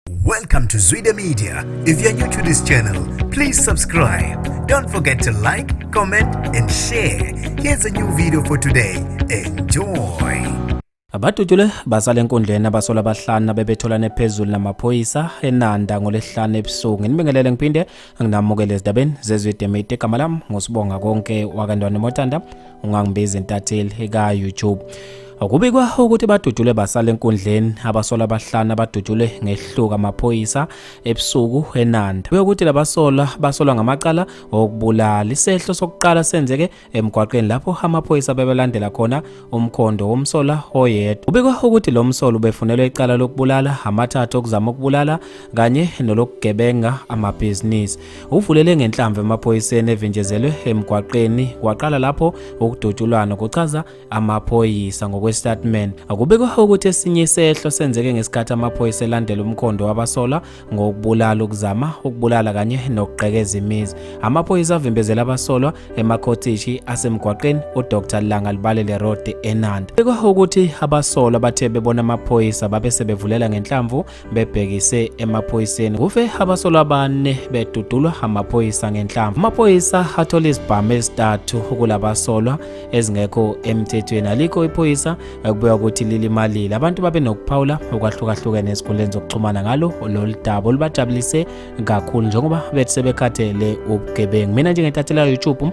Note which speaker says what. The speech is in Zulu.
Speaker 1: Welcome to Zwide Media. If you're new to this channel, please subscribe. Don't forget to like, comment and share. Here's a new video for today. Enjoy. Abadutshulwe
Speaker 2: basale enkundleni abasola abahlanu abebetholane phezulu namaphoyisa eNanda ngolesihlanu ebusuku. Nginibingelele ngiphinde anginamukele ezidabeni zezwe demate igama lami ngusibonga konke wakantwana motanda ungangibizi intatheli ka-youtube Kubikwa ukuthi badudule basale enkundleni abasola abahlanu abadudule ngehluka amaphoyisa ebusuku eNanda. Kuyokuthi labasola basolwa ngamacala okubulala. Isehlo sokuqala senzeke emgwaqeni lapho amaphoyisa bebelandela khona umkhondo womsola oyedwa. Kubikwa ukuthi lo msolo ubefunelwe icala lokubulala, amathathu okuzama ukubulala kanye nolokugebenga amabhizinisi. Uvulele ngenhlamvu emaphoyiseni evinjezelwe emgwaqeni kwaqala lapho ukudutshulwana, kuchaza amaphoyisa ngokwesitatimende akubikwa ukuthi esinye isehlo senzeke ngesikhathi amaphoyisa elandela umkhondo wabasola ngokubulala ukuzama ukubulala kanye nokugqekeza imizi amaphoyisa avimbezela abasolwa emakhotishi asemgwaqeni udr langa libalele road enanda kubikwa ukuthi abasolwa bathe bebona amaphoyisa babe sebevulela ngenhlamvu bebhekise emaphoyiseni kufe abasolwa abane bedudulwa amaphoyisa ngenhlamvu amaphoyisa athola izibhamu ezithathu kulabasolwa ezingekho emthethweni alikho iphoyisa ekubuya ukuthi lilimalile abantu babe nokuphawula okwahlukahlukene ezikhundleni zokuxhumana ngalo lolu daba olubajabulise kakhulu njengoba bethi sebekhathele ubugebengu mina njengentathelaka youtube